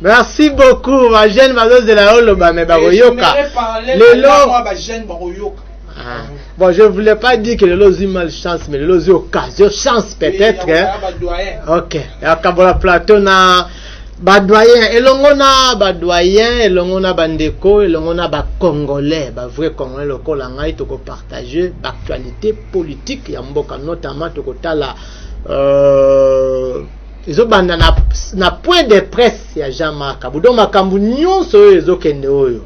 merci beaucoup ba jeune bazozela yo loba me bakoyoka lelo Ah. Bon, je voulais pas dire que Lelo eu mal chance, mais Lelo eu occasion, chance peut-être. Oui, hein. Ok. Akabola plateau na badoyen elongo na badoyen elongo na bandeko elongo na bacongolais bavrai congolais lokola ngai tokopartage baactualité politique ya mboka notamment tokotala euh, ezobanda na, na point de presse ya jean marc abu donc makambo nyonso oyo ezokende oyo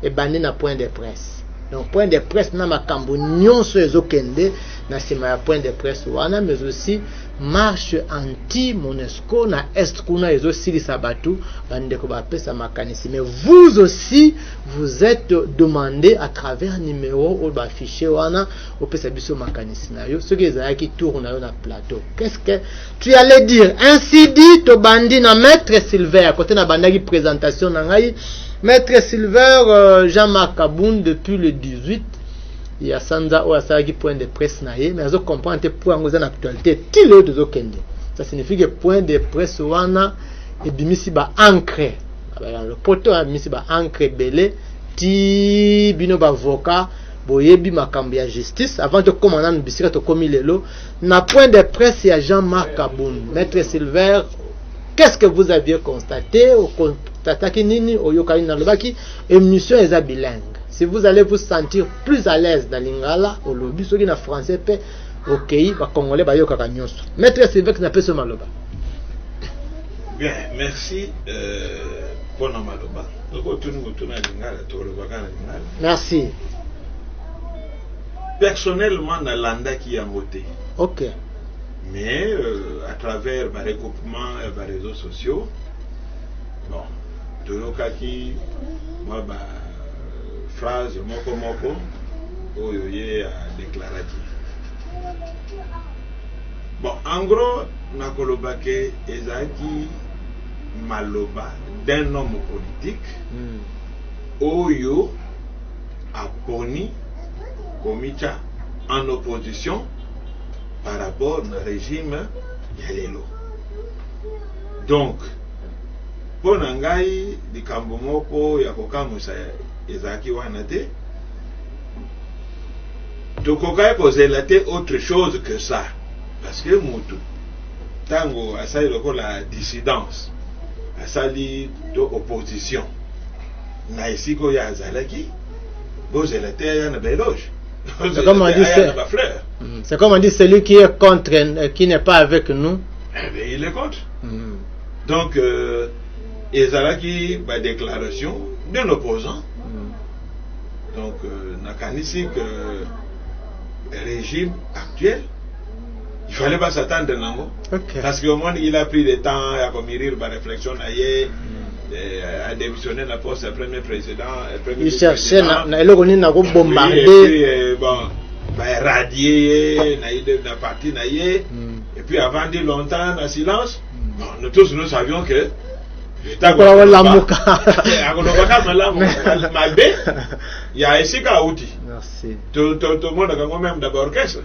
ebandi na point de presse donc point de presse na makambo nyonso ezokende na nsima ya point de presse wana mais aussi marche anti monesco na est kuna ezosilisa bato bandeko bapesa makanisi mais vous aussi vous êtes demandé à travers numéro oyo baaffiche wana opesa biso makanisi na yo soki ezalaki tour na yo na plateau qu'est ce que Tu allais dire ainsi dit tobandi na maître Silver kote na bandaki présentation na ngai maître Silver euh, Jean-Marc Kabund depuis le 18 ya sanza oyo asalaki point de presse na ye mais azo comprendre te point yango eza na actualité ti lelo tozokende ça signifie que point de presse wana ebimisi ba ancre na lopoto abimisi ba ancre ebele ti bino bavoka boyebi makambo ya justice avant tokóma nanu bisika tokómi lelo Na point de presse ya Jean-Marc Kabund, Maître Silver, qu'est-ce que vous aviez constaté? Okonstataki nini? Oyokani nalobaki emission eza bilingue. Si vous allez vous sentir plus à l'aise na lingala, olobi soki na français pe okei ba congolais bayokaka nyonso. Maître Silvex na peso maloba. Bien, merci euh, pona maloba. Toko tuni mutuna lingala, toko lobaka na lingala. Merci. Personnellement na landaki yango te. Ok. Mais euh, à travers ba regroupement ya ba réseaux sociaux bon toyokaki mwa ba euh, phrase moko moko oyo ye adeklaraki bon en gros nakoloba ke ezalaki maloba d'un homme politique mm. oyo aponi komitya en opposition par rapport na regime ya lelo. Donc, mpo na ngai likambo moko ya kokamwisa ezalaki wana te. Tokokaki kozela te autre chose que ça parce que mutu ntango asali lokola dissidence asali to opposition Na esika oyo azalaki, bozela te aya na ba eloges. C'est comme on dit, mm. c'est comme on dit, celui qui est contre, euh, qui n'est pas avec nous. Eh bien, il est contre. Mm. Donc, euh, ezalaki ba déclaration de l'opposant. Mm. Donc, euh, nakanisi que le régime actuel il fallait pas s'attendre nango okay. parce que omoni il a pris le temps ya komirir ba réflexion na ye mm. eh, a démissionné na poste ya premier président eh, premier il cherchait na, na eloko nini na kobombarde oui, eh, bon ba radier ye na, na parti na ye mm. et puis avant dit longtemps na silence mm. bon, nous tous nous savions que akola kolamuka akoloba kaka malamu mabe ya esika auti tomonaka ngo meme daba orchestre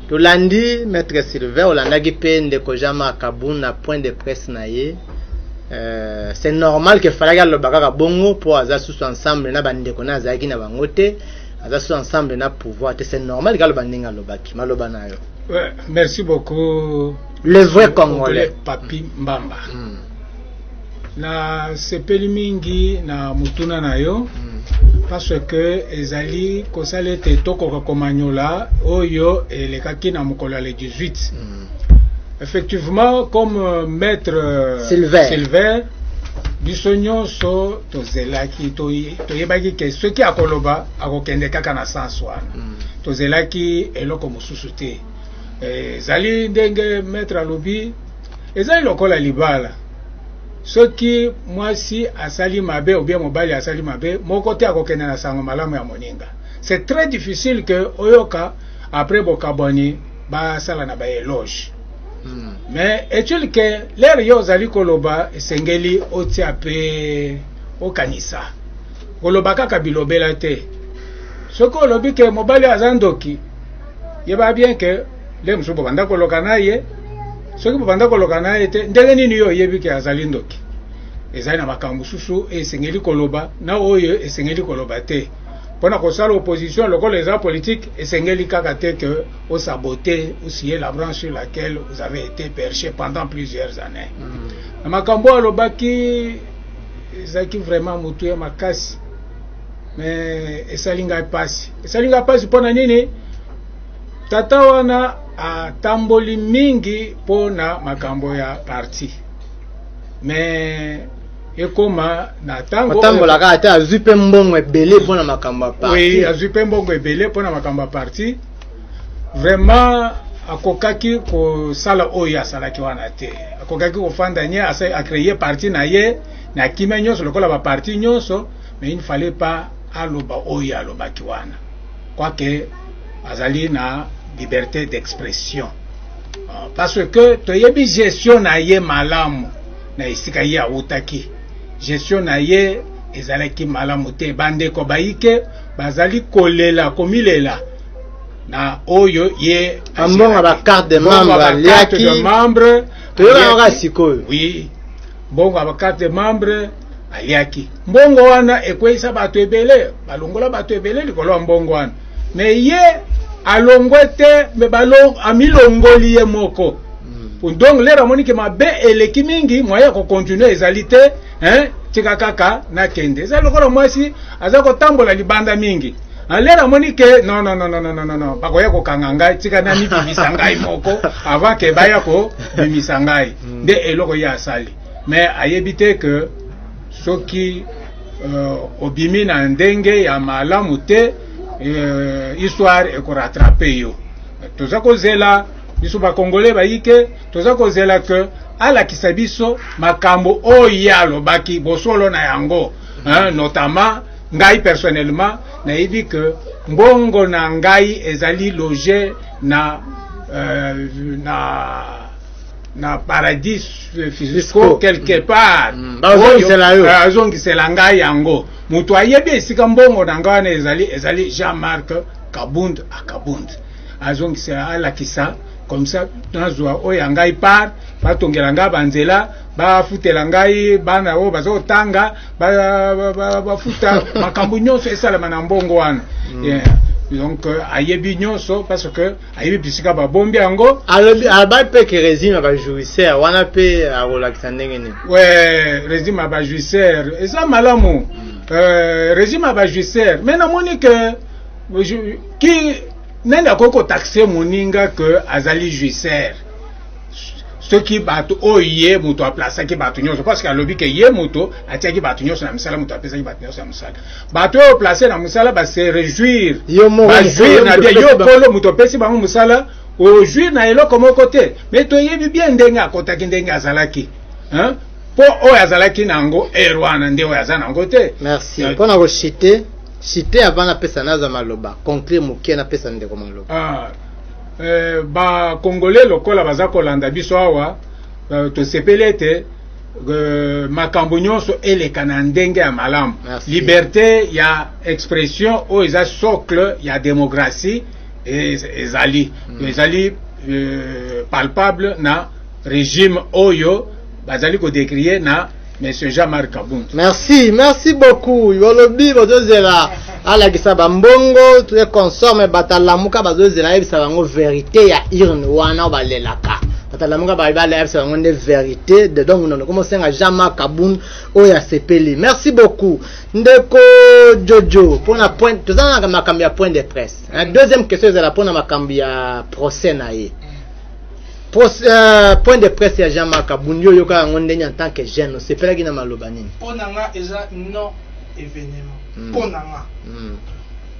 Tolandi Maitre Sylvain, olandaki pe ndeko Jean Marc Kabund na point de presse na ye. Euh, c'est normal que falaki aloba kaka bongo po aza susu ensemble na bandeko na azalaki na bango te aza susu ensemble na pouvoir te c'est normal que aloba ndenge alobaki maloba na yo Ouais, merci beaucoup. le vrai congolais Papi Mbamba. Mm. nasepeli mingi na motuna na yo parce que ezali kosala ete tokoka komanyola oyo elekaki na mokolo ya le 18 mm. effectivement comme euh, maître euh, silver, silver biso nyonso tozelaki toyebaki ke soki akoloba akokende kaka na sens wana mm. tozelaki eloko mosusu te eh, ezali ndenge maître alobi ezali lokola libala soki mwasi asali mabe ou bien mobali asali mabe moko te akokende na sango malamu ya moninga c'est très difficile que oyoka après bokabwani basala na ba eloge hmm. mais etil ke lere yo ozali koloba esengeli otia pe okanisa koloba kaka bilobela te soki olobi ke mobali aza ndoki yeba bien ke nde mosusu bobanda koloka na ye soki bobanda koloka na ye te ndenge nini yo oyebi ke azali ndoki ezali na makambo mosusu esengeli koloba na oyo esengeli koloba te mpo na kosala opposition lokola eza politique esengeli kaka te ke osabote osie la branche sur laquelle vous avez été perche pendant plusieurs années mm. na makambo oyo alobaki ezalaki vraiment motu ya makasi mais esali ngai mpasi esali ngai mpasi mpo na nini Tata wana atamboli mingi mpo na makambo ya parti me ekoma na ntango atambolaka ata azwi mpe mbongo ebele mpo na makambo ya parti oui, azwi mpe mbongo ebele mpo na makambo ya parti vraiment akokaki kosala oyo asalaki wana te akokaki kofanda nye acreye parti na ye na kimia nyonso lokola baparti nyonso mais il ne fallait pas aloba oyo alobaki wana Quoique azali na liberté d'expression ah, parce que toyebi gestion na ye malamu na esika ye awutaki gestion na ye ezalaki malamu te bandeko bayike bazali kolela komilela na oyo ye ambonga ba carte de membre aliaki de membre toyebaka sikoyo oui mbongo ya ba carte de membre aliaki mbongo wana ekweisa bato ebele balongola bato ebele likolo ya mbongo wana me ye alongwe te me amilongoli ye moko hmm. donc lero amoni ke mabe eleki mingi moye ya kokontinue ezali te hein? tika kaka nakende eza lokola mwasi aza kotambola libanda mingi lelo amoni ke no no no no no no no bakoya kokanga ngai tika namibimisa ngai moko avant ke baya kobimisa ngai hmm. nde eloko ye asali mais ayebi te que soki uh, obimi na ndenge ya malamu te uh, histoire ekoratrape yo toza kozela biso bakongole bayike toza kozela ke alakisa biso makambo oyo ye alobaki bosolo na yango hein, notamment ngai personnellement nayebi ke mbongo na ngai ezali loge na, uh, na na paradis eh, fisco quelque part mm. eh, azongisela ngai yango moto ayebi esika mbongo na ngai wana ezali ezali jean marc kabund akabund azongisela alakisa comme ça nazwa oyo ya ngai part batongela ngai banzela bafutela ngai bana oyo baza kotanga bafuta makambo nyonso esalama na mbongo wana mm. donc euh, ayebi nyonso parce que ayebi bisika babombi yango alobi alobai mpe ke regime ya bajouisseur wana mpe akolakisa ndenge nini we regime ya bajouisseur eza malamu euh, regime ya bajouisseur me namoni ke ki nani akoki kotaxe moninga ke azali jouisseur soki bato oyo ye moto aplasaki bato nyonso parce que alobi ke ye moto atiaki bato nyonso na misala moto apesaki bato nyonso ya mosala bato oyo place na mosala ba se réjouir ba jouir na bien yo kolo moto opesi bango mosala ojouir na eloko moko te mais toyebi bien ndenge akotaki ndenge azalaki hein? mpo oyo azalaki na yango ere wana nde oyo aza na yango te merci mpo euh, na koshite shite avant napesa naza maloba conclure moke napesa ndeko maloba ah, eh, bakongole lokola baza kolanda biso awa euh, tosepeli ete Euh, makambo nyonso eleka na ndenge ya malamu liberte ya expression oyo eza socle ya demokratie ezali mm. ezali euh, palpable na regime oyo bazali kodekrie na monsieur jean marc kabund merci merci beaucoup olobi bozozela alakisa bambongo te consorme batalamuka bazozela ayebisa bango verite ya urne wana balelaka batalamuka balibala ayebisa bango nde verite de donc nono komosenga jean marc kabun oyo asepeli merci beaucoup ndeko jojo mpona point toza na makambo ya point de presse mm. deuxième question ezala mpona makambo ya procès na ye Pros, euh, point de presse ya jean marc kabun yo oyoka yango ndenge en tant que jeune osepelaki na maloba nini mpo na nga eza non événement mm. mpo na nga mm.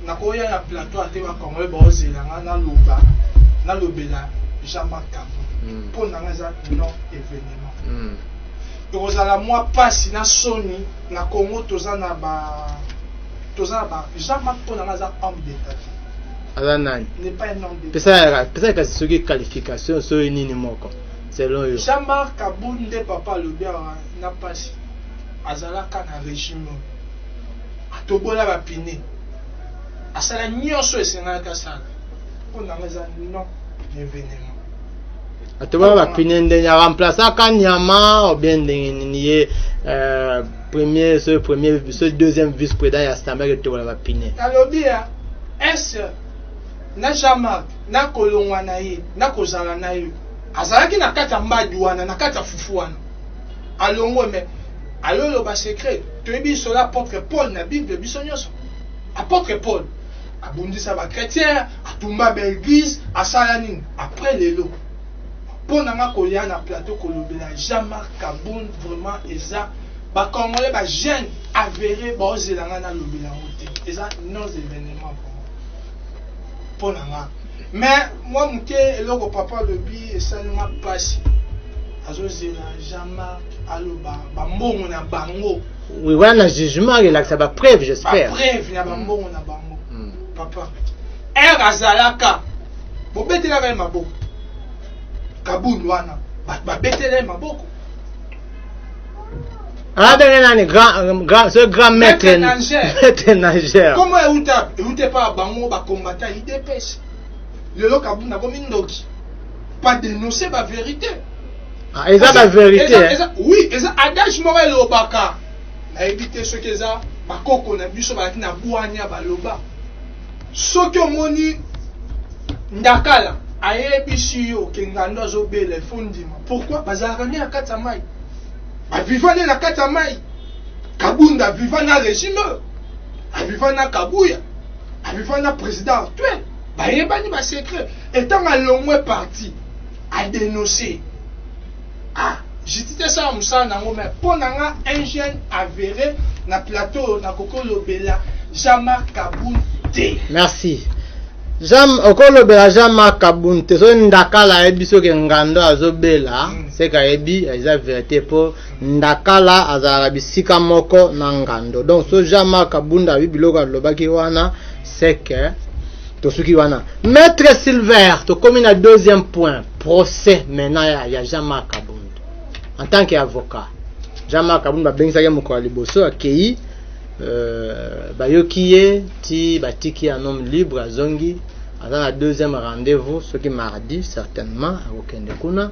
nakoya na plateau ate bakongole baozela nga naloba nalobela jean marc kavo mm. mpo na nga eza non événement mm. ekozala mwa mpasi na soni na congo toza na ba toza na ba jean marc mpo na nga aza homme d'état aza nani pesa kasi soki qualification soki nini moko selon yo jean marc abunde papa alobi awa na mpasi azalaka na régime atobola ba pine asala nyonso esengalaki asala mpo na ngai eza non evenema atobola ba pine ndenge aremplasaka nyama obien ndenge nini ye euh, premier ce premier ce deuxième vice président ya assemblée etobola ba pine alobi ya ese na jean mark na kolongwa na ye na kozala na ye azalaki na kati ya mbadi wana na kati ya fufu wana alongwe mais ayo loba secret toyebi solo apôtre Paul na Bible biso nyonso apôtre Paul abundisa ba chrétiens atumba ba église asala nini après lelo mpo na nga koya na plateau kolobela Jean-Marc Kabund vraiment eza ba congolais ba jeune avéré baozela nga nalobela yango te eza nos événements vraiment mpo na nga mais mwa moke eloko papa alobi esali nga mpasi azozela jean marc aloba bambongo na bango oui wana jugement elakisa bapreuve j'espère bapreuve na bambongo na bango hmm. papa ere azalaka bobetelaka ye maboko kabund wana bato babetelai maboko abenge ah, nani euh, ce grand maître maître nageur kombo euta eute pa bango bakombata idps lelo kabunda komi ndoki pas dénoncer ba vérité ah, eza ba vérité oui eza adage moko elobaka nayebi te soki eza bakoko na biso balaki na bwania baloba Soki omoni ndakala ayebisi yo ke ngando azobela il faut ndima pourquoi bazalaka nde na kati ya mai baviva nde na kati ya mai kabunda aviva na regime aviva na kabuya aviva na président actuel bayebani basecret etango alongwe parti adenonse Ah, Judith esala musala nango mais mpo na nga un jeune avere na plateau oyo nakoki olobela Jean-Marc Kabund te. Merci. Jean okolobela Jean-Marc Kabund te soki ndakala ayebi soki engando azobela Mm. seke ayebi eza verite mpo ndakala azalaka bisika moko na ngando donc so Jean-Marc Kabund ayebi biloko alobaki wana seke tosuki wana maître silver tokomi na deuxième point procès maintenant ya, ya jean marc abund en tant que avocat jean marc abund babengisaki mokolo ya liboso akei euh, bayoki ye ti batiki ya homme libre azongi aza na deuxième rendez-vous soki mardi certainement akokende kuna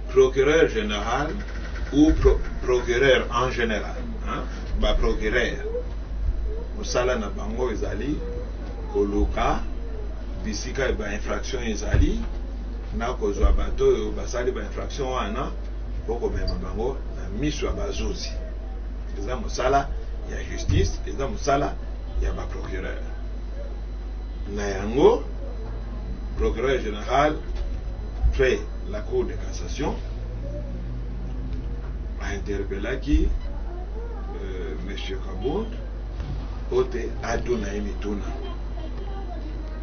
Procureur general ou pro, procureur en general hein? ba procureur mosala na bango ezali koluka bisika ba infraction ezali na kozwa bato oyo basali ba infraction wana mpo komema bango na miso ya bazuzi eza mosala ya justice eza mosala ya ba procureur na yango procureur general fait La Cour de cassation a interpellaki euh, Monsieur Kabund mpo te atuna ye mituna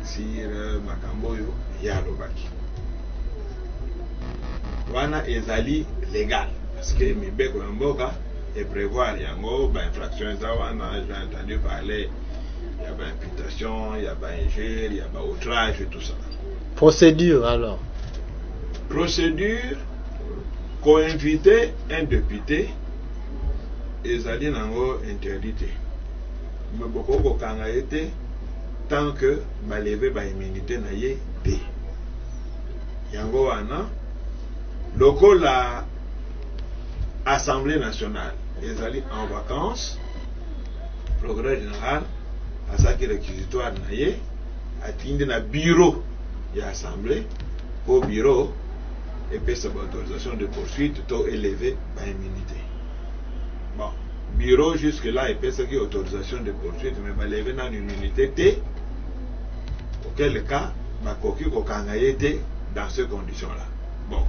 sur euh, makambo oyo ye alobaki wana ezali legal parce que mibeko ya mboka eprevoir yango bainfraction eza wana j'ai entendu parler ya baimputation ya bainjure ya baoutrage tout ça Procedure alors. Procedure co-inviter un depute ezali nango interdit te. Mais bokoki kokanga ye te tant que ba lever ba immunite na ye te. Yango wana lokola Assemblee nationale ezali en vacances, Procureur general asalaki requisitoire na ye. Atindi na bureau ya assemblee po bureau epesa ba autorisation de poursuite to eleve ba immunite. Bon, bureau jusque là epesaki autorisation de poursuite mais baleve nanu immunite te, auquel cas bakoki kokanga ye te dans ces conditions là. Bon,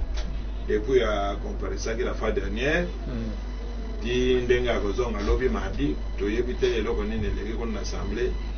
depuis a comparesaki la fois dernière ti ndenge akozonga lobi mardi, toyebi te eloko nini eleki kuna na assemblee.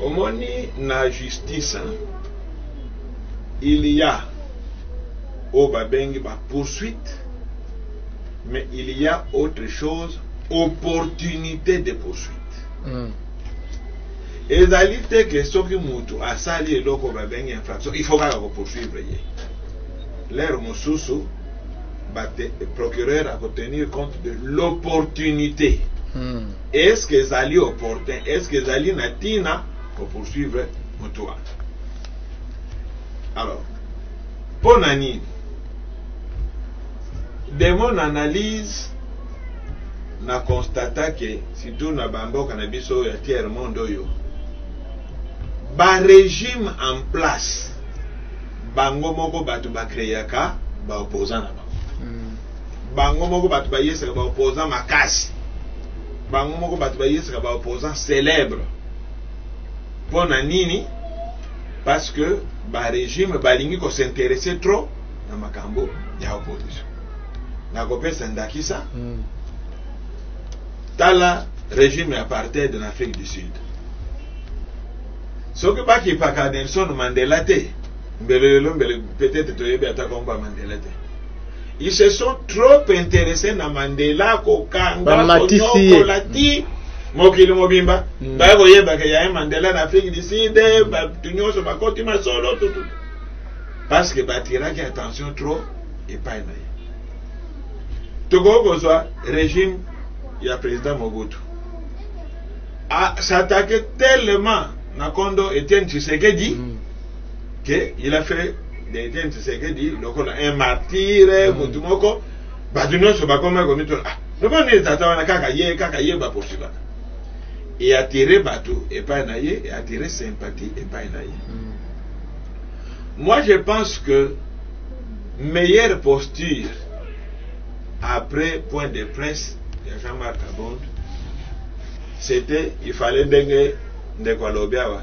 Omoni na justice hein il ya oyo ba bengi ba poursuite mais il ya autre chose opportunite de poursuite mm. ezali te ke soki mutu asali eloko ba bengi infraction il faut kaka ko poursuivre ye lere mosusu procureur à tenir compte de l'opportunité mm. Est ce que ezali opportun? Est ce que ezali na tina ko poursuivre mutu wana? Alors, mpo na nini? De mon analyse, na constata ke surtout na bamboka na biso oyo ya tiers monde oyo ba regime en place bango moko bato bakreaka ba opposant na bango bango moko bato bayesaka ba opposant makasi bango moko bato bayesaka ba opposant célèbre mpo na nini parce que barégime balingi kosinteresse trop na makambo ya opposition nakopesa ndakisa mm. tala régime ya apartheid na afrique du sud soki bakipaka nelson mandela te mbele lelo mbele peut-être toyebi ata komba mandela te Ils se sont trop intéressés na Mandela kokanga konyokola ti mokili mobimba mm. baya koyebaka yaye Mandela na Afrique du Sud bato nyonso bakoti masolo tutu parce que batiraki attention trop epai na ye tokoki kozwa régime ya président Mobutu s'attaquer tellement na kondo Etienne Tshisekedi mm. que il a fait Etienne Tshisekedi lokola un martyre mm. mutu moko bato nyonso bakomaki komituna ah lokola nini tata wana kaka ye kaka ye baporsibaka eatire bato epai na ye eatire sympathie epai na ye mm. moi je pense que meilleure posture après point de presse ya Jean-Marc Kabund c'était il fallait ndenge ndeko alobi awa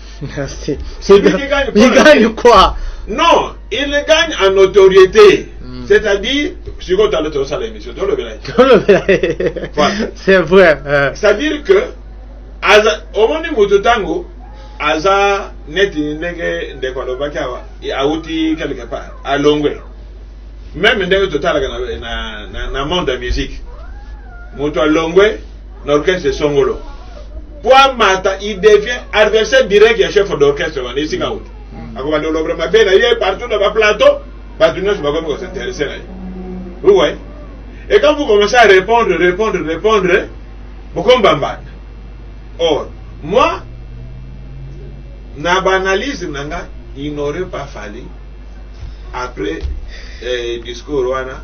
Merci. Il, il, il gagne, il gagne quoi Non, il gagne en notoriété. Mm. C'est-à-dire, si on t'a l'autre salle émission, tu le voilà. C'est vrai. Euh. C'est-à-dire que, aza, au moment où tu tango, aza net ndenge ndeko alobaki awa awuti quelque part alongwe meme ndenge totalaka na, na, na, na monde ya musique moto alongwe na orchestre songolo po amata il devient adversaire direct ya chef d'orchestre wana esika oyo mm. akobanda olobra mabe na ye partout na baplateau bato nyonso bakomi kosinteresse na ye uwe et quand vous commencez à répondre répondre répondre bokombambana or moi na baanalyse na nga il n'aurait pas fallu après eh, discours wana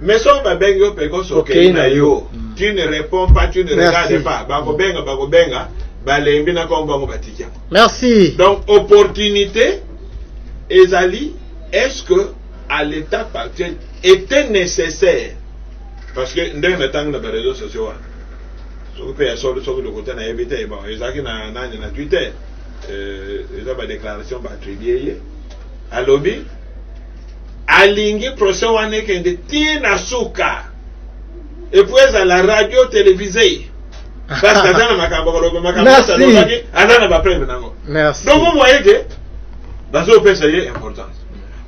Mais soki babengi yo pekos okei na yo hmm. tu ne réponds pas tu ne regardes pas bakobenga bakobenga balembi na kongo bango batiki yango merci donc opportunité ezali est ce que à l'état actuel était nécessaire parce que ndenge na ntango na bareseau sociaux wana soki mpe ya solo soki lokuta nayebi te bon ezalaki na nani na twitter euh, eza badéclaration baattribue ye alobi Alingi procès wana ekende tii na suka epuis ezala radio televise parce que aza na makambo koloba makambo Merci. alobaki aza na bapreve nango Merci. donc vous voyez que bazopesa ye importance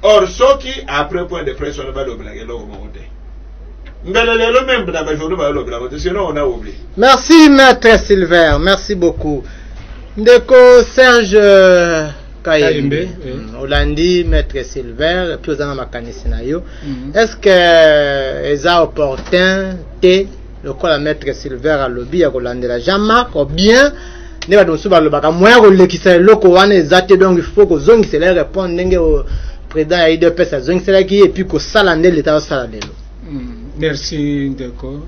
or soki après point de presse wana balobelaka eloko moko te mbele lelo meme na bajournaux balobelaka te sinon on a oublie Merci, maître Silver. Merci beaucoup. Ndeko Serge. euh, kayembe mm, olandi maître silver epuis oza na makanisi na yo mhm. est ce que euh, eza opportun te lokola maître silver alobi ya kolandela jean marc obien nde bato mosusu balobaka moya kolekisa eloko wana eza te donc il faut kozongisela ye répondre ndenge président ya idps azongiselaki ye epuis kosala nde leta osala lelo mm, merci ndeko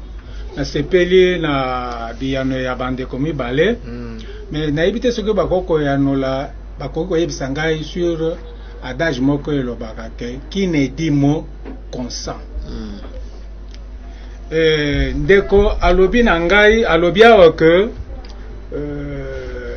nasepeli na biyano ya bandeko mibale mm. Mais nayebi te soki bakoki koyanola, bakoki koyebisa ngai sur adage moko elobaka ke qui ne dit mot consent. Mm. Eh, ndeko alobi na ngai alobi awa ke euh,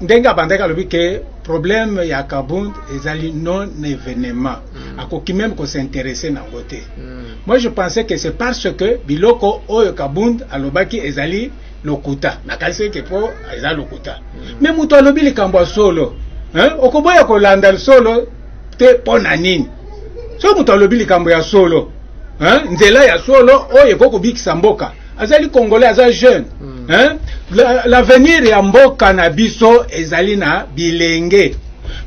ndenge abandaki alobi ke problème ya Kabund ezali non événement mm. akoki même ko s'intéresser nango te mm. moi je pensais que c'est parce que biloko oyo Kabund alobaki ezali lokuta nakanisi ete mpo eza lokuta me mm. moto alobi likambo ya solo okoboya kolanda solo te mpo na nini soki moto alobi likambo ya solo nzela ya solo oyo ekoki kobikisa mboka azali congolais aza jeune mm. l'avenir la ya mboka na biso ezali na bilenge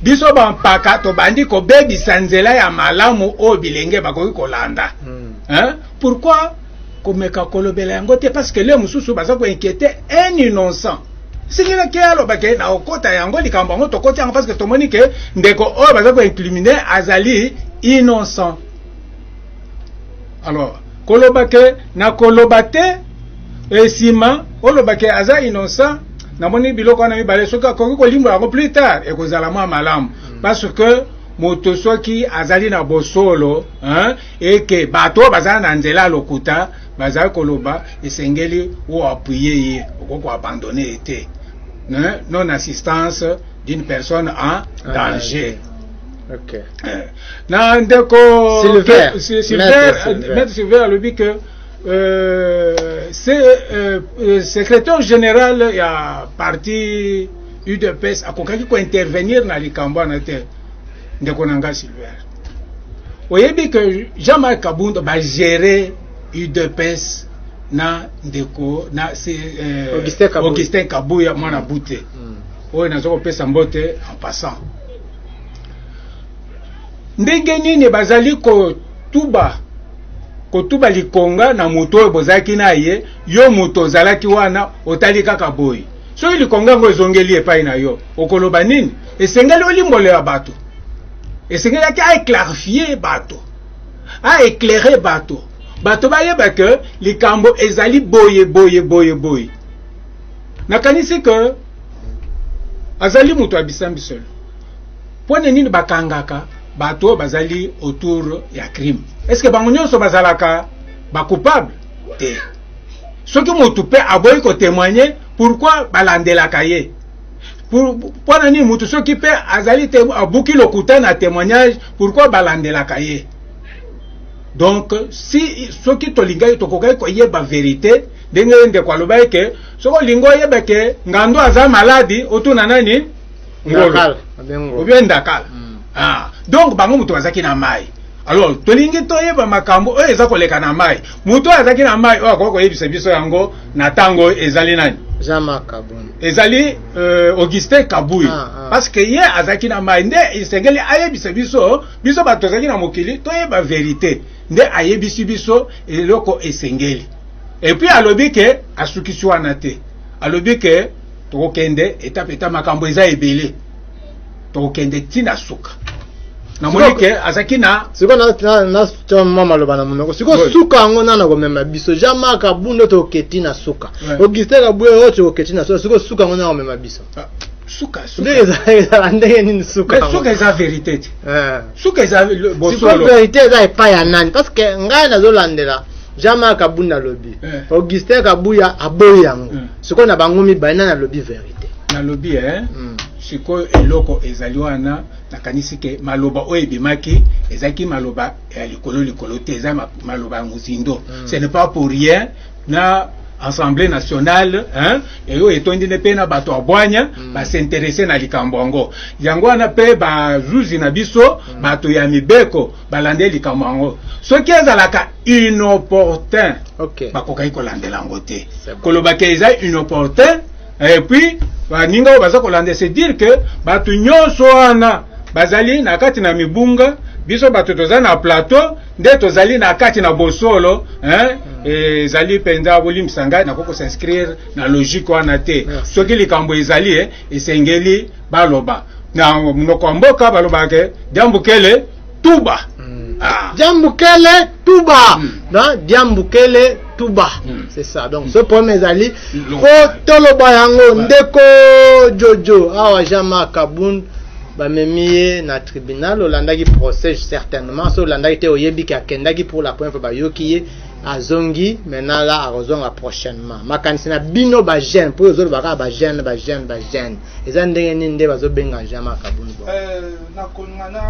biso bampaka tobandi kobebisa nzela ya malamu oyo bilenge bakoki kolanda mm. pourquoi komeka kolobela yango te parce que le mosusu baza ko inquiéter un innocent sikila ke aloba ke na okota yango likambo yango tokoti yango parce que tomoni ke ndeko oyo baza ko incriminer azali innocent alors koloba ke na koloba te esima oloba ke aza innocent namoni biloko wana mibale soki akoki kolimbola yango plus tard ekozala mwa malamu hmm. parce que moto soki azali na bosolo hein, eke bato oyo bazala na nzela ya lokuta bazali koloba esengeli oapuye ye okoki koabandone ye te non assistance d'une personne en danger okay. Eh, na ndeko silver silver alobi que euh, se, euh, euh, secrétaire général ya parti udps akokaki kointervenir na likambo wana te ndeko na ngai silver oyebi que jean marc kabund bagere udps na ndeko na se, eh, augustin kabuya, augustin kabuya mwana mm. bute mm. oyo naza kopesa mbote en passant ndenge nini bazali kotuba kotuba likonga na moto oyo bozalaki na ye yo moto ozalaki wana otali kaka boye Soki likonga yango ezongeli epai na yo, okoloba nini? Esengeli olimbolela bato, esengelaki aeclarifie bato, aeclaire bato, bato bayeba ke likambo ezali boye boye boye boye. Nakanisi ke azali moto ya bisambiselo. Mpo na nini bakangaka bato oyo bazali autour ya crime? Eske bango nyonso bazalaka ba coupable? te soki mutu pe aboyi ko témoigner pourquoi balandelaka ye mpo na nini mutu soki pe azali te abuki lokuta na témoignage pourquoi balandelaka ye donc si soki tolingaki tokokaki koyeba verité ndenge ndeko alobaki ke soki olingi oyeba ke ngando aza maladi otuna nani ngolo obie ndakala mm. ah, donc bango moto bazalaki na mai alors tolingi toyeba makambo oyo eza koleka na mai moto oyo azalaki na mai oyo akoki koyebisa biso yango na ntango oyo ezali nani ezali euh, augustin kabui ah, ah. parce que ye azalaki na mai nde esengeli ayebisa biso biso bato tozalaki na mokili toyeba verite nde ayebisi biso eloko esengeli epuis alobi ke asukisi wana te alobi ke tokokende etape eta makambo eza ebele tokokende ntina suka namoni ke azalaki na sikoyo natya mwa maloba na monoko sikoyo suka yango nana komema biso jean mark abundo tokoketi na suka augustin kabwe oyo tokoketi na suka sikoyo suka yango nana komema biso ah, suka ezala ndenge nini sukasuka eza verité te eh. suka eza bosolo verité eza epai ya nani parce que ngai nazolandela jean mark abunda alobi eh. augustin kabuya aboyi yango eh. sikoyo na bango mibale nani alobi verite nalobi eh? mm. sikoyo eloko ezali wana nakanisi ke maloba oyo ebimaki ezalaki maloba ya likolo likolo te eza maloba ya mozindo mm. ce n'est pas pour rien na assemblée nationale hein, eyo etondi nde mpe na bato ya bwanya mm. basinterese na likambo yango yango wana mpe bazuzi na biso mm. bato ya mibeko balande likambo yango soki ezalaka inopportun okay. bakokaki kolandela yango te koloba ke eza inopportun epuis baninga oyo baza kolanda se dire ke bato nyonso wana bazali na kati na mibunga biso bato toza na plateau nde tozali na kati na bosolo hmm. ezali mpenza bolimbisa ngai nakoki kosinscrire na logique wana te soki likambo ezali eh, esengeli baloba na munoko ya mboka balobaka ke diambukele tuba mm. ah. diambukele tuba mm. na diambukele tuba mm. c'est ça donc ce problème ezali po toloba yango ndeko jojo awa jean marc kabund bamemi ye na tribunal olandaki procès certainement so olandaki te oyebi ke akendaki pour la première fois bayoki ye azongi maintenant la akozonga prochainement makanisi na bino bagene mpo ozoloba kaka bagene bagene bagene eza ndenge nini nde bazobenga jean marc abuni bongo euh, nakolinga na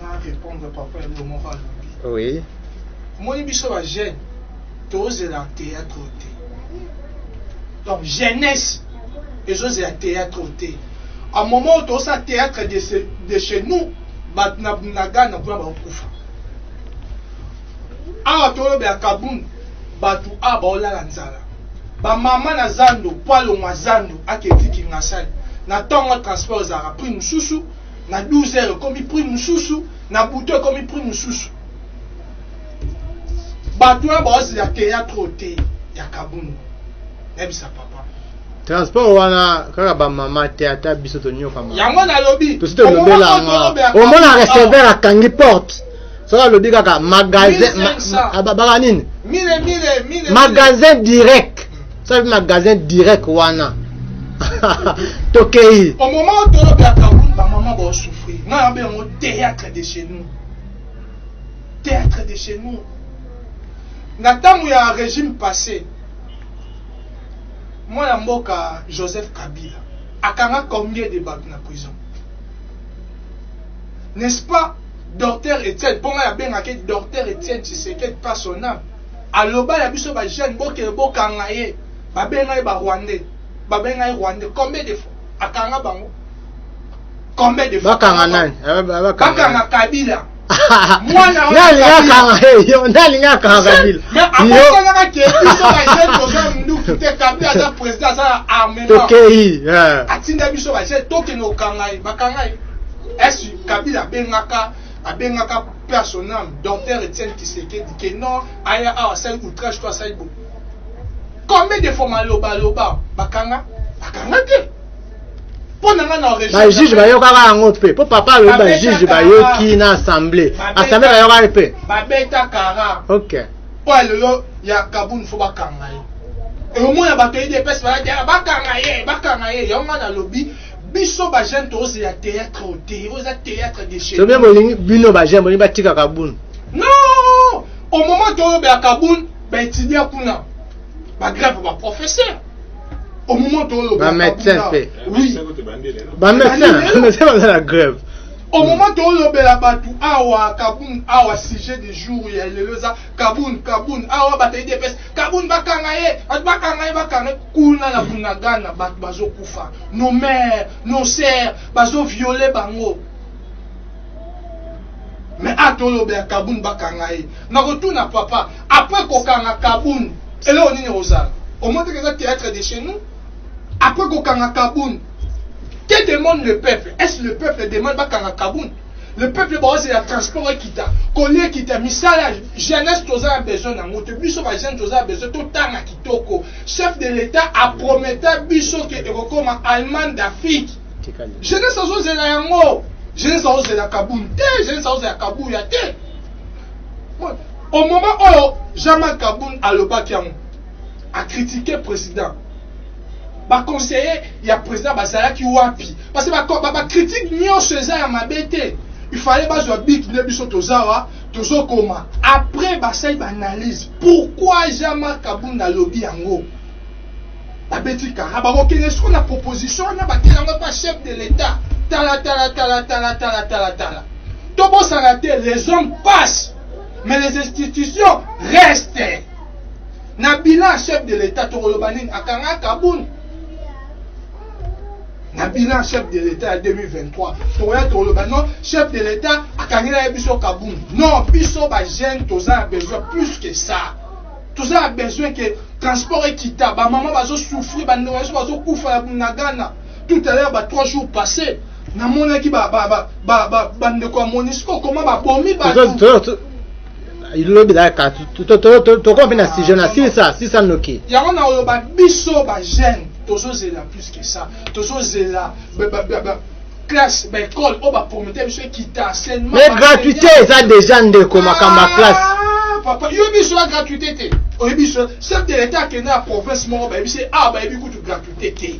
na répondre papa yango moko alobi oui omoni biso bajeune tozela théâtre oyo te donc jeunesse ezozela théâtre oyo te a moment oyo tozosala théâtre de chez nous bato na bunagana kuna bakokufa Awa tolobela kabund batu awa baolala nzala ba mama na zando po alongwa zando ake ti kingasani na tango ya transport ezalaka prix mususu na 12 heures ekomi prix mususu na butu ekomi prix mususu batu wana baozela theatre oyo te ya kabund nayebisa papa transport wana kaka bamama te ata biso tonyokama yango nalobi tosi tolobela yango omona receveur akangi porte soki alobi kaka magasin baka nini magasin direct soki alobi magasin direct wana tokei au moment où tolobi ya kaboul bamama baosouffrir nga yabe yango théâtre de chez nous théâtre de chez nous na ntango ya régime passé mwana mboka joseph kabila akanga combien de bato na prison n'est-ce pas Docteur Etienne po ngai abengaka ye Docteur Etienne Tshisekedi pas son ame. Aloba na biso ba jeunes bokende bokanga ye. Babenga ye ba Rwandais. Babenga ye Rwandais combien de fois? Akanga bango. Combien de fois? Bakanga nani? Eh, Bakanga Kabila. mwana nalinga kanga kabila akosalaka ke biso bajeune toza munduki te kabila aza président aza na armement tokei atinda biso bajeune tokende kokanga ye bakanga ye Kabila abengaka abengaka personnel docteur Etienne Tshisekedi que non aya awa asali outrage to asali bo combien de fois maloba loba bakanga bakanga te mpo na nga na bajuge bayokaka yango mpe mpo papa alobi bajuge bayoki na assemblée assemblée bayokaki mpe babeta kara ok mpo ya lelo ya kabuni fo bakanga ye omona bato edps bakanga ye bakanga ye yango nga nalobi biso ba jeune tozo ya théâtre au te oza théâtre de chez bien bolingi bino ba jeune bolingi batika kabun non au moment toyo ba kabun ba étudia kuna ba grève ba professeur au moment toyo ba médecin pe oui ba médecin médecin baza la grève au mm. moment tolobela bato awa kabun awa sujet du jour ya lelo eza kabun kabun awa bato edps Kabund bakanga ye bato bakanga ye bakanga ye kuna na bunagana bato bazokufa nos mères nos sœurs bazoviole bango me atoloba ya kabund bakanga ye nakotuna papa apres kokanga kabund eloko nini ekozala omoteke eza théâtre de chez nous apres kokanga kabund que demande le peuple est ce le peuple demande bakanga kabund le peuple baozela transport ekita koli ekita misala jeunesse toza na besoin nango te biso bajeune toza na besoin totanga kitoko chef de l'état aprometa biso ke ekokoma allemagne d'afrique jeunesse azozela yango jeunesse azozela kabuni te jeunesse azozela kabuya te au moment oyo jean marc kabuni alobaki yango akritike président ba conseillers ya president bazalaki wapi parce que ba, ba, ba critique nyonso eza ya mabe te il fallait bazwa bic nde biso tozawa tozokoma après basali baanalyse pourquoi jean marc kabunda alobi yango babeti kara bakokende soko na proposition wana batela yango epa chef de l'état talatalatalatalatalatalatalatala tobosana te les hommes passent mais les institutions restent na bilan ya chef de l'etat tokoloba nini akanga kabund na bilan chef de l'etat ya 2023 tokoya tokoloba non chef de l'etat akangela ye biso kabund non biso bajeune toza na besoin plus que ça toza na besoin ke transport ekita bamama bazosouffrir bandeko na biso bazokufa ya bunagana tout à l'heure ba trois jours passé namonaki bandeko ya monisco koma babomi bato lobi ezalaka tokoma mpe na sujet na sisa sisa noki yango na oloba biso bajeune tozozela plus que ça tozozela classe baekole oyo bapromete biso ekita enseignement mais gratuité eza déjà ndeko makambo ya classe ah, papa yo biso ya gratuité te oyebi biso chef de l'état akende na province moko bayebi se awa ah, bayebi kutu gratuité te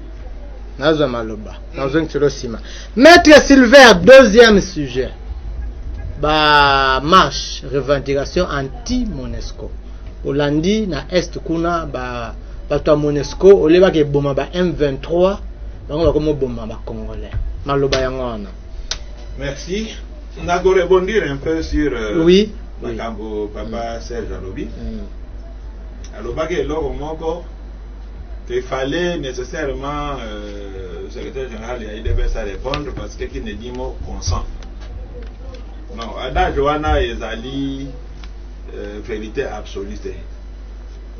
nazwa maloba nazongiselo nsima maître silver deuxième sujet ba marche revendication anti monesco olandi na est kuna ba bato ya monesco olebaka eboma ba m23 bango bakomoboma bacongolais maloba yango wana merci nakorebondir un peu sur euh, oui makambo oui. papa mm. serge alobi mm. alobaki eloko moko Il fallait nécessairement euh, secrétaire général ya IDPS à répondre parce que qui ne dit mot consent. Non, adage wana ezali euh, vérité absolue te.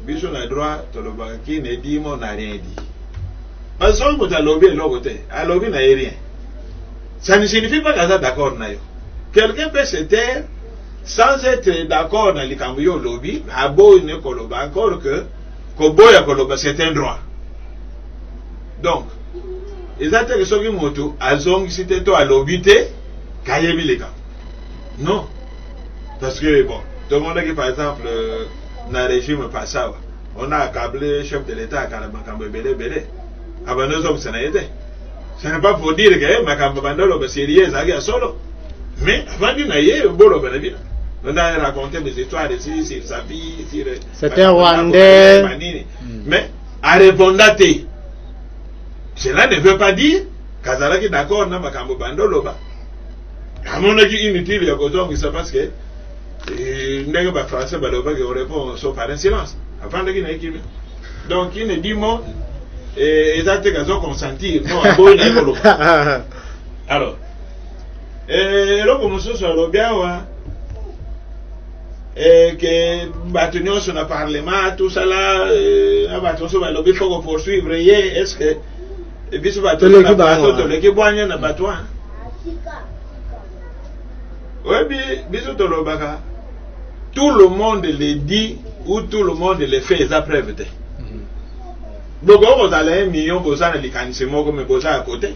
Biso na droit tolobaka qui ne dit mot n'a rien dit. Parce que moto alobi eloko te, alobi na ye rien. Ça ne signifie pas kaza d'accord na yo. Quelqu'un peut se taire sans être d'accord na likambo yo olobi, aboyi ne koloba encore que Koboya koloba c'est un droit. Donc, eza te ke soki moto azongisi te to alobi te kayebi likambo. Non. Parce que bon, tout le monde qui par exemple euh, na régime passawa, on a accablé chef de l'État à Kalabakambo Belé Belé. Abandonne ça, ça n'a été. Ce n'est pas pour dire que eh, Makambo Bandolo, c'est sérieux, ça a solo. Mais avant d'y aller, Bolo Belé Belé. On a raconté des histoires ici sur sa vie, sur C'est un Rwandais. Mais a répondre te. Cela ne veut pas dire kazalaki d'accord na makambo bando loba. Amonaki inutile ya kozongisa parce que eh, ndenge ba français balobaki on répond sauf par un silence. Afandaki na ekimi. Donc il ne dit mot et eza te kazo consentir. Non, aboyi na ekoloba. Alors, eh, eloko mosusu alobi awa eh, que bato nyonso na parlement tosala eh, na bato nyonso balobi fo kopoursuivre ye est ce que eh, biso bato toleki bwanya na bato wana oyebi biso tolobaka tout le monde le dit ou tout le monde le fait eza preuve te mm. bokoki kozala ye million boza na likanisi moko me boza ya kote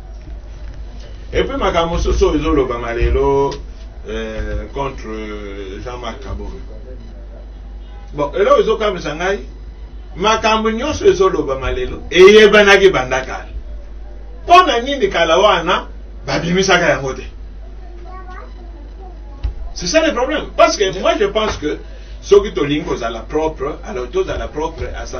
Et puis makambo mosusu oyo ezolobama lelo euh, contre Jean-Marc Kabore. Bon, eloko ezokamwisa ngai makambo nyonso ezolobama lelo eyebanaki banda kala. Mpo na nini kala wana babimisaka yango te? C'est ça le problème. Parce que moi je pense que soki tolingi kozala propre, alors tozala propre à 100%.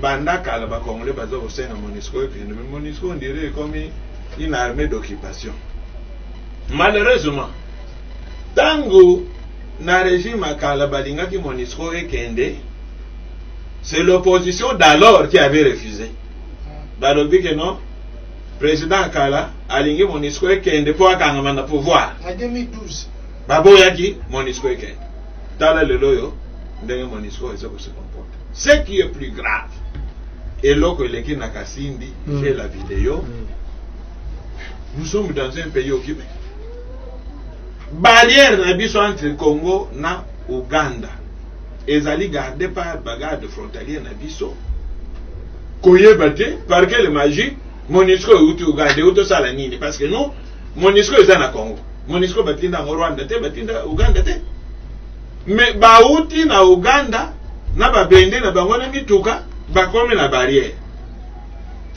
Banda kala ba congolais baza kosenga Monusco ekende mais Monusco on dirait ekomi une armée d'occupation. Malheureusement tango na regime ya kala balingaki Monusco ekende c'est l'opposition d'alors qui avait refusé. Balobi que non président kala alingi Monusco ekende mpo akangama na pouvoir. Na 2012 baboyaki Monusco ekende. Tala lelo oyo ndenge Monusco eza kosekomporte. Ce qui est plus grave eloko eleki na kasindi mm. j'ai la video mm. nous sommes dans un pays occupé barrière na biso entre congo na uganda ezali garde par bagarde frontalier na biso koyeba te par quelle magie monisco euti uganda euti osala nini parce que non monisco eza na congo monisco batinda yango rwanda te batinda uganda te Mais bawuti na Ouganda na ba bende na bango na mituka bakomi na barrière.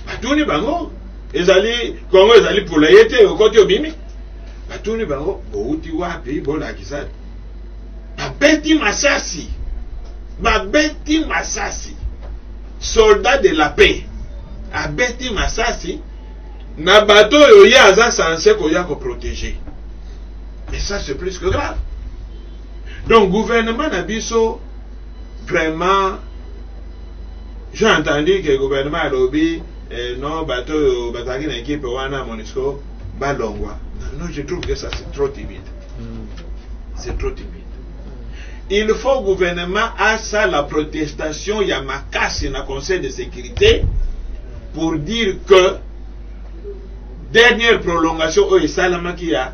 Batuni bango ezali Congo ezali pula ye te okoti obimi. Batuni bango bowuti wapi bolakisa babeti masasi babeti masasi soldat de la paix abeti masasi na bato oyo ye aza sanse koya koprotege mais ça c'est plus que grave Donc gouvernement na biso vraiment j'ai entendu que gouvernement alobi eh, non bato oyo bazalaki na ekipe wana monisco balongwa non je trouve que ça c'est trop timide mm. c'est trop timide il faut gouvernement asala protestation ya makasi na conseil de sécurité pour dire que dernière prolongation oyo esalamaki ya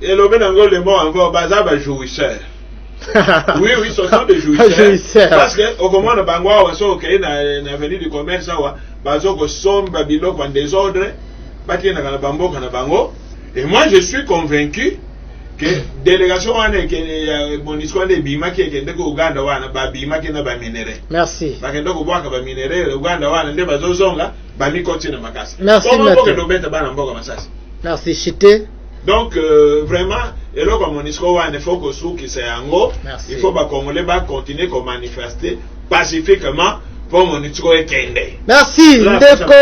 Elobi na ngo le mot encore baza ba jouisseurs. oui oui ce sont des jouisseurs parce que okomona bango awa so okei na, na avenue du commerce awa bazo kosomba biloko en désordre bakendaka na bamboka na bango et moi je suis convaincu que délégation wana ya monisco wana ebimaki ekende ko uganda wana babimaki na baminerai merci bakende kobwaka baminerai uganda wana nde bazozonga bami koti na makasi merci koma mboka dobeta bana mboka masasi merci chite donc euh, vraiment eloko ya monisco wana ifo kosukisa yango il faut bacongolais bacontinue komanifeste pacifiquement mpo monisco ekende merci ndeko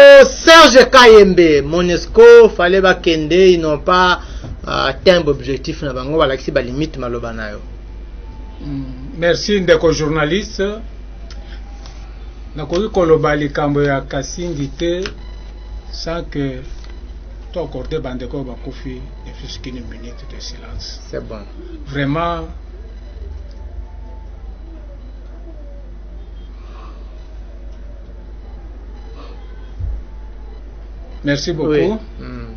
serge kayembe monisco fale bakende ils n'ont pas uh, tembe objectif na bango balakisi balimite maloba na yo mm, merci ndeko journaliste nakoki koloba likambo ya kasindi te sans que to accorde bandeko oyo bakufi ne fût qu'une minute de silence c'est bon vraiment merci beaucoup oui. mm.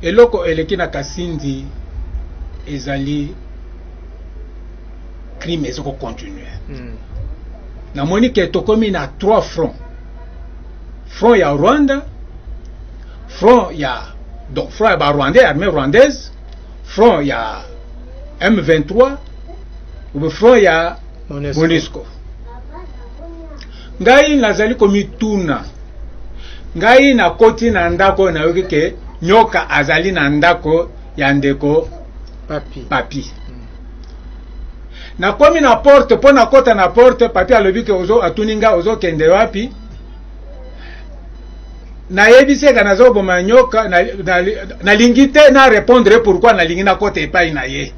eloko eleki na kasindi ezali crime ezo ko continuer mm. namoni ke tokomi na trois fronts front ya rwanda front ya donc front ya barwandais armée rwandaise front ya m23 obe front ya monesco ngai nazali komituna ngai nakoti na ndako oyo nayoki ke nyoka azali na ndako ya ndeko papi, papi. nakomi na porte mpo nakota na porte papi alobi ke ozo atuni nga ozokende wapi nayebisi eka nazoboma nyoka nalingi na, na te na repondre pourkui nalingi nakota epai na ye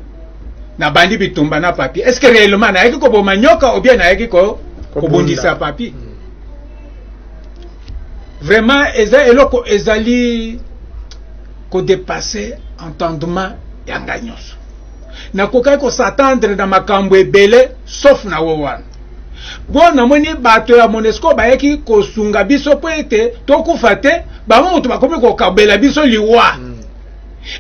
nabandi bitumba na papi est ce que réellement nayaki koboma nyoka obien nayaki ko, kobundisa papi mm. vraiment eza eloko ezali kodepasse entendement ya ngai nyonso nakokaki kosatandre na makambo ebele sauf na wo wana mpo namoni bato ya monesco bayaki kosunga biso mpo ete tokufa te bango moto bakomi kokabela biso liwa mm.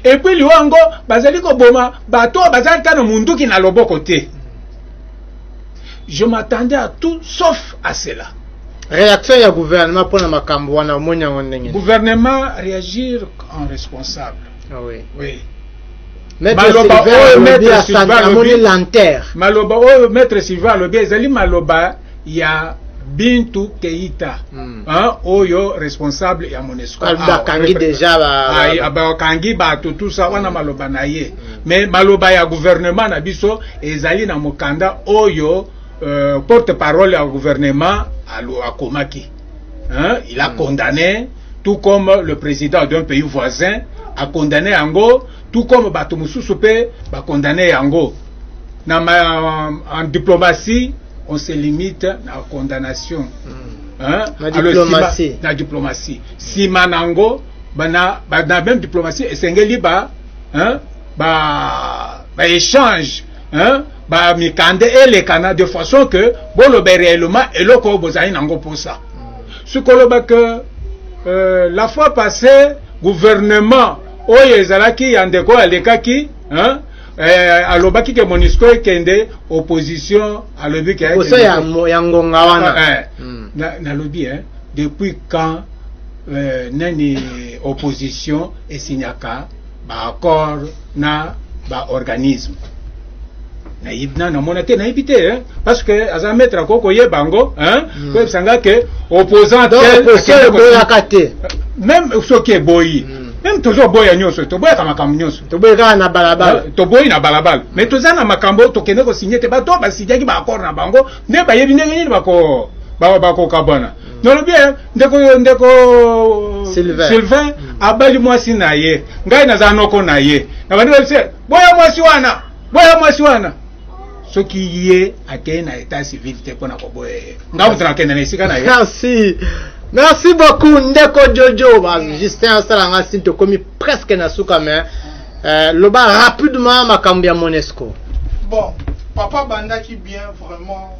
epui liwa yango bazali koboma bato oyo bazali ta na monduki na loboko te je m'attendais à tout sauf à cela réaction ya gouvernement mpo na makambo wana omoni yango ndenge gouvernement réagir en responsable ah oui. Oui. maloba oyo maître silva alobi maloba oyo maître silva alobi ezali maloba ya bintu keita mm. hein, oyo responsable ya monesco bakangi deja bakangi bato tusa wana maloba na ye mm. mais maloba ya gouvernement na biso ezali na mokanda oyo euh, porte parole ya gouvernement akomaki hein, il a mm. condamné tout comme le président d'un pays voisin a condamné yango tout comme bato mosusu mpe condamné yango na ma, en diplomatie on se limite na condamnation mm. hein? na, diplomatie. na diplomatie nsima na yango bana, bana même diplomatie esengeli ba, hein? ba, ba échange hein? ba mikande elekana de façon que bolobe réellement eloko bozali nango posa sikoloba que euh, la fois passée gouvernement oyo ezalaki ya ndeko oyo alekaki hein? eh, alobaki ke monisco ekende opposition alobi ke osa ya, ya ngonga wana ah, eh, mm. nalobi na eh, depuis quand eh, nani opposition esignaka baaccord na baorganisme nayebi na namona te nayebi te hein? parce que aza maître akoki koyeba yango hein? Mm. koyebisa nga ke opposant Donc, tel opposition akende ko- eboyaka te même soki eboyi Mm. même tozoboya nyonso toboyaka makambo nyonso toboyi kaka na balabala Eh, toboyi na balabala mais toza na makambo tokende kosigne te bato oyo basinyaki baaccord na bango nde bayebi ndenge nini bako- ba- bakokabwana nalobi eh, ndeko ndeko Sylvain, Sylvain mm. abali mwasi na ye ngai naza noko na ye na bandi balise eh, boya mwasi wana boya mwasi wana soki ye akei na etat civil te mpo na koboya ye ngai moto nakende na esika na ye merci merci beaucoup ndeko jojo ba justin asala ngai sini tokomi presque na suka mais euh, loba rapidement makambo ya monesco bon papa abandaki bien vraiment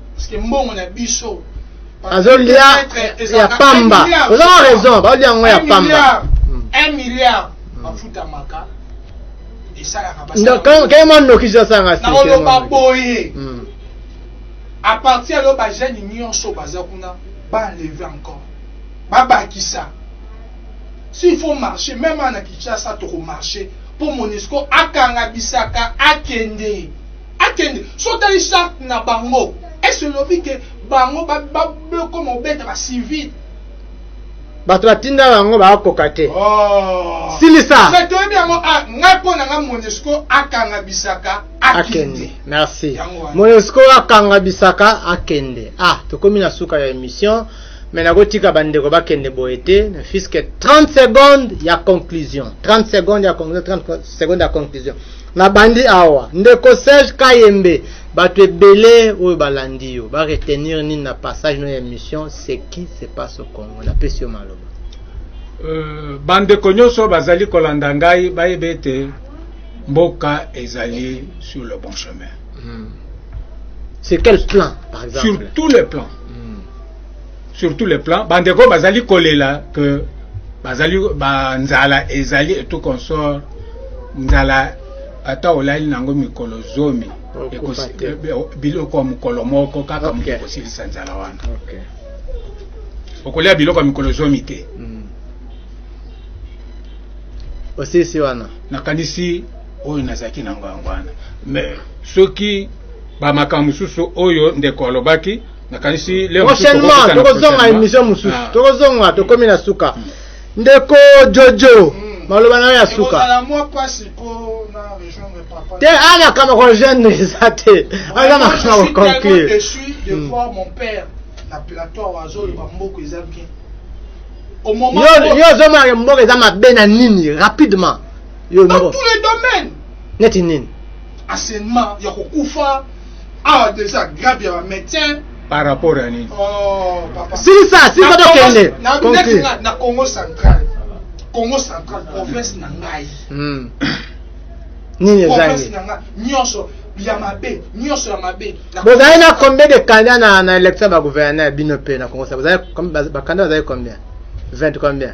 azolia ya pamba oza na raison baolia yango ya pamba kei mwa nokisi asanga nakoloba boye hmm. a partir ya lo bajeune nyonso baza kuna baenleve encore babakisa s'il faut marcher même ana kinshasa tokomarche mpo monisco akanga bisaka akende Akende so tali charte na bango est ce lobi que bango ba ba bloko mobeta ba civil bato batinda bango bakoka te oh. silisa mais toyebi yango ah, ngai mpo na ngai monesco akanga bisaka akende merci monesco akanga bisaka akende ah tokomi na suka ya émission me nakotika bandeko bakende boye te na fiske 30 seconde ya conclusion 30 seconde ya conclusion 30 seconde ya conclusion Na bandi awa. Ndeko Serge Kayembe, batu ebele oyo balandi yo, ba retenir nini na passage no ya emission Ce qui se passe au Congo? Na pesi yo maloba. Euh, ba ndeko nyoso bazali kolanda ngai bayebe ete mboka ezali sur le bon chemin. Hmm. Sur quel plan, par exemple? Sur tous les plans. sur tous les plans bandeko bazali kolela que bazali banzala ezali et tout consort nzala ata olali nango mikolo zomi biloko ya mokolo moko kaka moto ekosilisa nzala wana okolia biloko ya mikolo zomi te hmm. osisi wana nakanisi oyo nazalaki nango yango wana mais soki bamakambo mosusu oyo ndeko alobaki nakanisi leo prochainement tokozonga emission mosusu ah. tokozonga tokomi na suka mm. ndeko jojo mm. maloba nayo ya suka te a makambo kogene eza te aza makambo koconclure yo ozomona mboka eza mabe na nini rapidement yo neti nini enseignement ya kokufa awa deja grave ya ba maintien par rapport ya nini oh, silisa silisa tokende na congo central congo central province na ngai hmm. nini ezangi nyonso ya mabe nyonso ya mabe bozali na combien de candidat na, na élection ya bagouverneur bino mpe na congo bozali bakanda bazali combien 20 combien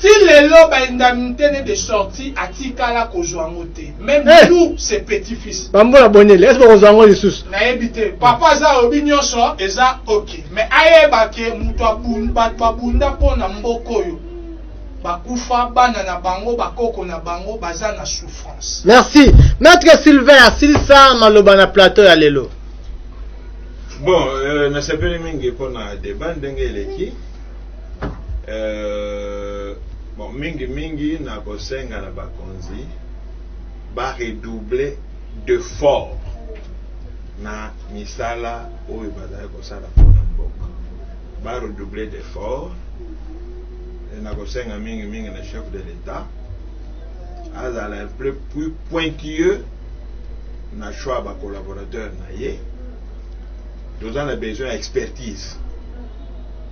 Ti lelo ba indemnites ne de sortie atikala kozua yango te meme eh! nous ses petits fils. Ba mbula bonele est ce que kozua yango lisusu? Nayebi te papa aza alobi nyonso eza ok mais ayeba ke moto abunda bato babunda mpo na mboka oyo bakufa bana na bango bakoko na bango baza na souffrance. Merci maître Sylvain asilisa maloba na plateau ya lelo. Bon euh, nasepeli mingi mpo na debat ndenge eleki. Euh, bon, mingi mingi na kosenga na bakonzi ba redoubler d'effort na misala oyo bazali kosala mpona mboka ba redoubler d'effort na kosenga mingi mingi na chef de l'etat azala plus, plus pointilleux na choix ya bacollaborateur na ye toza na besoin ya expertise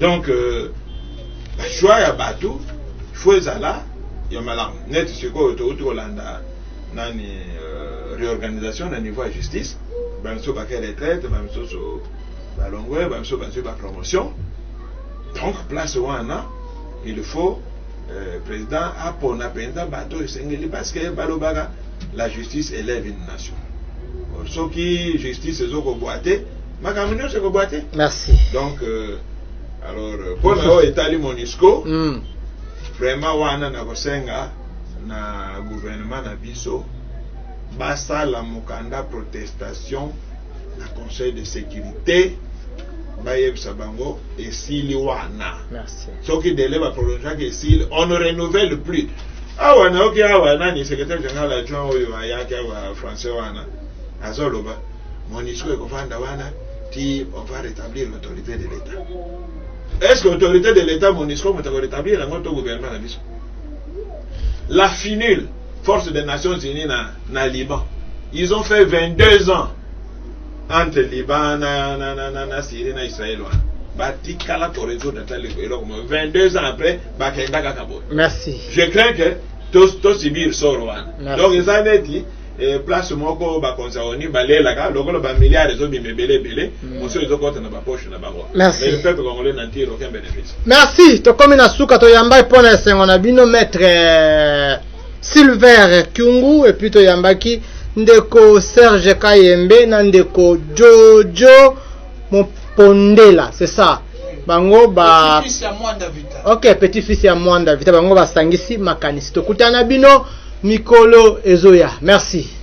donc euh, ba choix ya bato faut ezala ya malamu neti sikoyo touti kolanda nani euh, réorganisation na niveau ya justice bamiso bake retraite bamisusu balongwe bamiso bazwi bapromotion donc place wana il faut euh, président apona mpenza bato oyo esengeli parce que balobaka la justice élève une nation soki justice ezokobwa te makambo nyonso ekobwa te merci donc euh, alors euh, mpo na oyo etali monisco mm. vraiment wana nakosenga na gouvernement na biso basala mokanda protestation na conseil de sécurité bayebisa bango esili wana merci soki dele baprolongeaki esili on ne renouvelle plus awa nayoki awa nani secrétaire général adjoint oyo ayaki awa français wana azoloba Monusco ekofanda wana ti on va rétablir l'autorité de l'État. Est-ce que l'autorité de l'État Monusco moto rétablir yango to gouvernement na biso? La FINUL, force des Nations Unies na, na Liban, ils ont fait 22 ans entre Liban na, na, na, na, na Syrie na Israël wana batikala koresoudre ata eloko moko 22 ans après bakenda kaka boye merci je crains que tosibir soro wana donc eza neti Eh, place moko bakonzi yango nini balelaka lokola bamilliard ezobima ebele ebele mm. mosusu ezokota na bapoche na bango peuple congolais na ntiro aucun bénéfice merci tokomi na suka toyambai mpo na esengo na bino maître euh, silver kiungu epuis toyambaki ndeko serge kayembe na ndeko jojo mopondela c'est ça bango ba ok petit fils ya mwanda vita bango basangisi makanisi tokutana bino Mikolo ezoya. Merci.